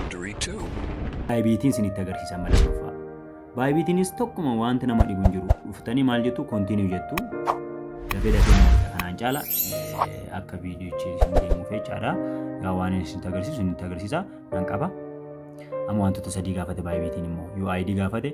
Three, two. Baayibiitiin isinitti agarsiisan mala dhuunfaa. Baayibiitiinis tokkuma wanti nama dhibu hin jiru. Dhuftanii maal jettu kontiinuu jettu. Dafee dafee nyaata kanaan caala eh, akka viidiyochi isin deemuuf jechaadha. Yaa waan inni isinitti agarsiisu isinitti agarsiisa nan qaba. Amma wantoota sadii gaafate baayibiitiin immoo UID gaafate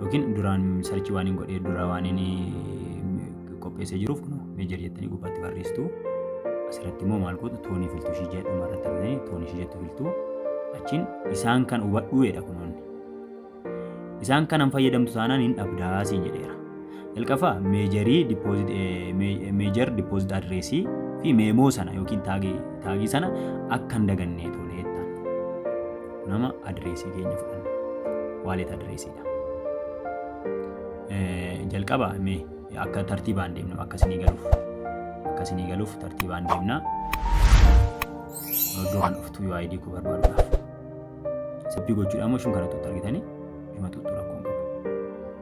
yookiin duraan sarchii waan hin godhee dura waan inni qopheessee jiruuf kun meejar jettanii gubbaatti barreessitu. Asirratti immoo maal gootu toonii filtuu ishii jedhu irratti argitanii toonii ishii jettu filtuu achiin isaan kan hubadhu jedha kunoonni. Isaan kanan fayyadamtu taanaan hin dhabdaa siin jedheera. Jalqafa meejarii deposit eh, me- major deposit address fi meemoo sana yookiin taagii taagii sana akka hin dagannee tolee jettaan. Nama adreesii keenya fudhanna. Waalet adreesiidha. Eh, Jalqaba mee akka tartiibaan deemnu akka isinii galuuf akka isinii galuuf tartiibaan deemna. Iddoo kan dhuftu yoo ID koo barbaaduudhaaf. Saffii gochuudhaan immoo shun kana tuttu argitanii himatuutu rakkoo hin qabu.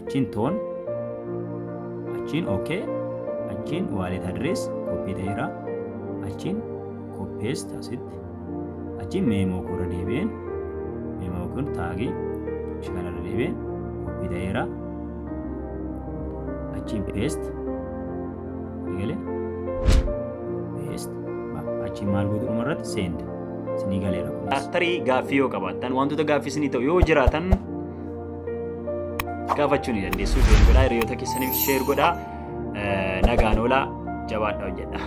achiin toon achiin ok achiin wallet address koppii ta'eera achiin koppees taasitti achiin meemoo koora deebi'een meemoo kun taagii ishee kanarra deebi'een koppii ta'eera achiin peest nigale peest achiin maal gootu dhuma irratti seend sinii galeera. Aktarii gaaffii yoo qabaattan wantoota gaaffii sinii ta'u yoo jiraatan gaafachuu ni dandeessu. Join godhaa hiriyoota keessaniif share godhaa. Nagaan oolaa jabaadhaa hojjedhaa.